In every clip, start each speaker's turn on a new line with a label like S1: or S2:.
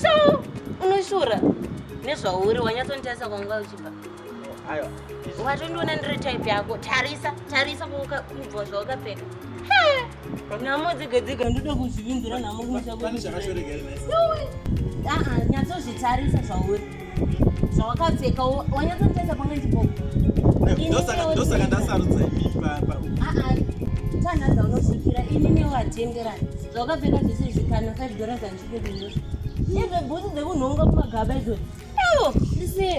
S1: so unoshura nezvauri wanyatsonditarisa kwanguva uchibva
S2: watondiona
S1: ndiri type yako tarisa tarisa kubva zvawakapfeka nhamo dzega dzega ndoda kuzvivinzira nhamo kumusha ah, ah, nyatsozvitarisa zvauri zvawakapfeka wanyatsotarisa pamwe ndipo ndosaka
S2: ndasarudza imi
S1: tanhadza unosvikira ini newatenderana zvawakapfeka zvese zvikana five dollars andichipekuyo izve bhuti dzekunhonga kumagaba izvoi ewo ndisiye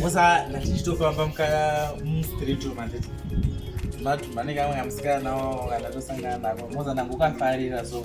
S2: Musa ndatichitofamba mukaya mustreet umu handiti vanenge vamwe amusikana nawo kana tosangana nako moza ndangokafarira so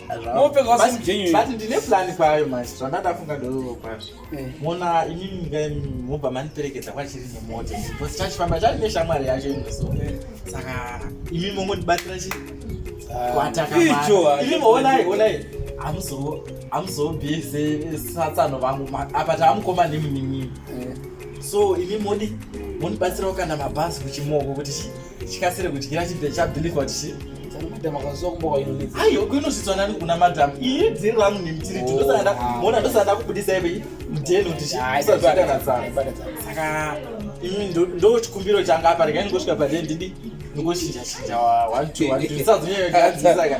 S3: but ndine plani kwayo
S2: manje zvandadafunga ndoo kwazvo eh. mona imimi ka mobva mandiperekedza kwachiri nemota because chachifamba chari neshamwari yacho inoso eh. saka imimi mongondibatsira chi ah. kwatakaimioonai onai hamuzobese satsano vangu apa taamukoma nemimimimi eh. so imimi moni monibatsirawo kana mabhazi kuchimoko kuti chii chikasire kudyira chibve chabhilikwa tichi aiyo kuinozvitswa nani kuna madam iye dziri rangu nemtiri oh, ndosada mona ndosada kubudisa ive mdeno tichisakanasaka imi ndo chikumbiro changa apa rega ingosvika pade ndidi ndingoshinja shinja wazvitsazonyayogadzisaka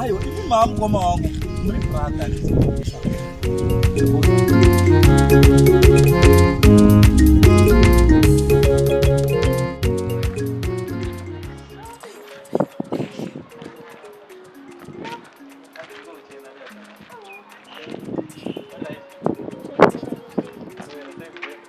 S2: Ayo, ini mamu kwa mawangu, mri brata.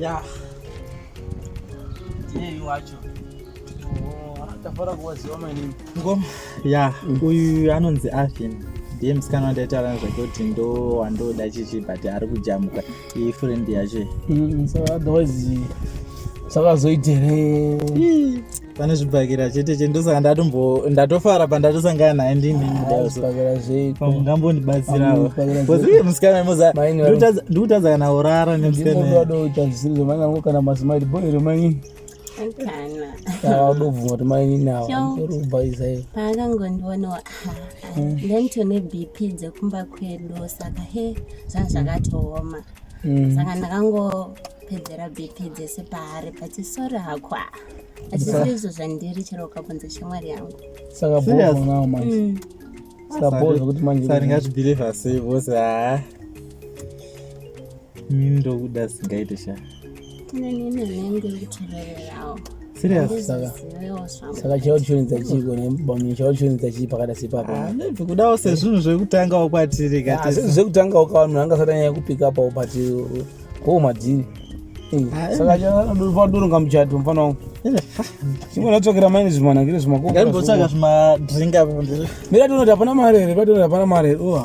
S2: Yeah. Yeye wacho.
S3: Tafara kuwaziwa manini. Ngoma.
S2: Yeah, uyu anonzi Afin. Ndiye musikana wandaitaura nezvake kuti ndo wandoda chichi but ari kujamuka. iyi friend yacho mm, so
S3: otherwise zvakazoita here pane
S2: zvibhakira chete chete ndosaka ndatombo ndatofara pandatosangana naye
S3: ndinindambondibatsirawo
S2: uye musikana moza ndikutadza kana urara nemusikana
S3: kana mazimai boy remanyini
S1: kana audobvuma
S3: kuti mainini awa ndorubhaizayo paakangondiona
S1: ah, ah, mm. then tone bp dzekumba kwedu saka he zvanga zvakatooma mm. saka ndakangopedzera bp dzese paari pati sori hakwa achisi izvo zvandiri chero ukabvunza shamwari yangu saka boonao
S3: manje mm. saka boo zvekuti manje saka ndingazvibhilivha
S2: sei vose haa ah. mini ndokuda singaite shaa
S1: serious saka
S3: saka chao chionedza chiiko nebamuni chao chionedza chii pakada sepapa ah, kudawo sezvinhu
S2: zvekutangawo kwatiri kazvinhu ah, zvekutangawo
S3: kawa munhu anga satanyaya kupika pawo but ko madhini saka chadoronga muchato mfana wangu chimwe ndatsvakira maini zvimanangire zvimakombosaka zvimadringa
S2: mira tonoti hapana mari
S3: here patonoti hapana mari here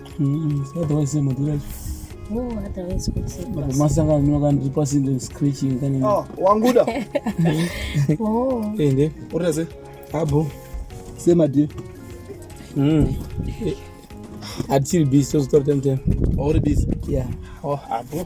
S1: wanguda
S3: ende urase
S2: abo
S3: semadi atiri busy tozotora time time auri busy
S2: yeah oh
S3: abo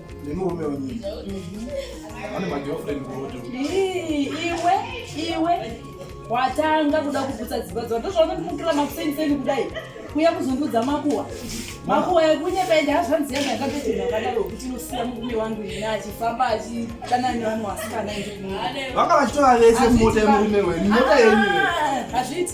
S4: nemurume wenyu ane magirlfriend kuroto iwe iwe
S5: watanga kuda kuputsa dzimba dzavo ndozvaunondimukira makuseni kudai kuya kuzondiudza makuwa makuwa ekunyepa ende hazvanzi yangu yakatotenha kadaro kuti inosiya murume wangu ine achifamba achitana nevanhu vasikana vanga
S4: vachitova vese mumota yemurume wenyu mota yenyu ah, hazviiti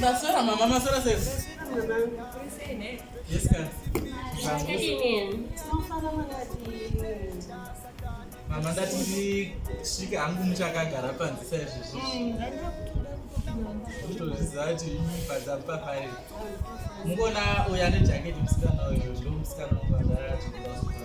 S2: Masora mama, masora sesi. Yes, ka. Mama ndati ndisvike hangu muchakagara panze saizvozvo. Ndozviziva kuti imibhadza papai. Mungona uya nejaketi musikana uyo ndomusikana wabhadhara kuti ndazvigara.